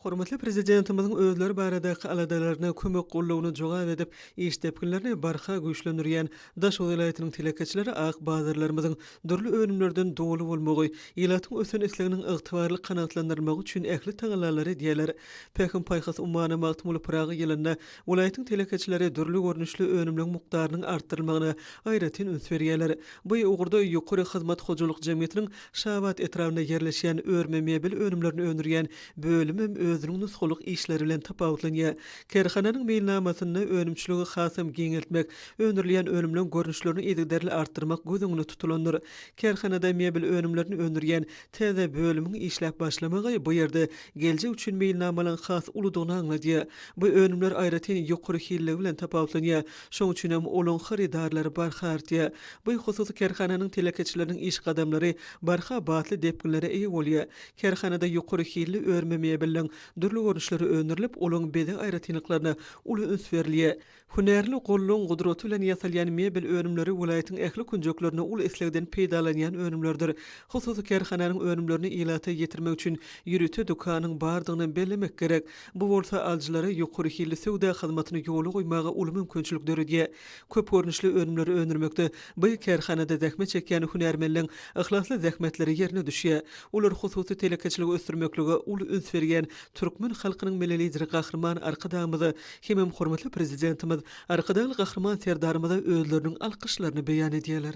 Hormatly Prezidentimiziň özleri baradaky aladalaryna, kömek gollugyna jogap edip, iş depginlerini barha güýçlendirýän Daşoguz welaýatynyň telekeçileri ak bazarlarymyzyň dürli önümlerden doly bolmagy, ilatyň ösen isleginiň ygtybarly kanagatlandyrylmagy üçin ähli tagallalary edýärler. Pähim-paýhas ummany Magtymguly Pyragy ýylynda welaýatyň telekeçileri dürli görnüşli önümleň mukdarynyň artdyrylmagyna aýratyn üns berýärler. Bu ugurda Ýokary hyzmat hojalyk jemgyýetiniň Şabat etrabynda ýerleşýän örme mebel önümlerini öndürýän bölüm hem özüniň nusgalyk işleri bilen tapawutlanýar. Kärhananyň meýilnamasynda önümçiligi hasam giňeltmek, öndürilýän önümleň görnüşlerini yzygiderli artdyrmak göz öňünde tutulandyr. Kärhanada mebel önümlerini öndürýän täze bölümiň işläp başlamagy bu ýerde geljek üçin meýilnamalaryň has uludygyny aňladýar. Bu önümler aýratyn ýokary hilligi bilen tapawutlanýar. Şoň üçin hem olaň hyrydarlary barha artýar. Bu hususy kärhananyň telekeçileriniň iş gadamlary barha batly depginlere eýe bolýar. Kärhanada ýokary hilli örme mebeliniň dürli görnüşleri öndürilip, olaň bezeg aýratynlyklaryna uly üns berilýär. Hünärli gollugyň gudraty bilen ýasalýan mebel önümleri welaýatyň ähli künjeklerinde uly islegden peýdalanýan önümlerdir. Hususy kärhananyň önümlerini ilata ýetirmek üçin ýörite dükanyň bardygyny bellemek gerek. Bu bolsa alyjylara ýokary hilli söwda hyzmatyny ýola goýmaga uly mümkinçilik döredýär. Köp görnüşli önümleri öndürmekde by kärhanada zähmet çekýän hünärmenleň yhlasly zähmetleri ýerine düşýär. Olar hususy telekeçiligi ösdürmeklige uly üns berýän türkmen halkynyň Milli Lideri Gahryman Arkadagymyza hemem hormatly Prezidentimiz Arkadagly Gahryman Serdarymyza özleriniň alkyşlaryny beýan edýärler.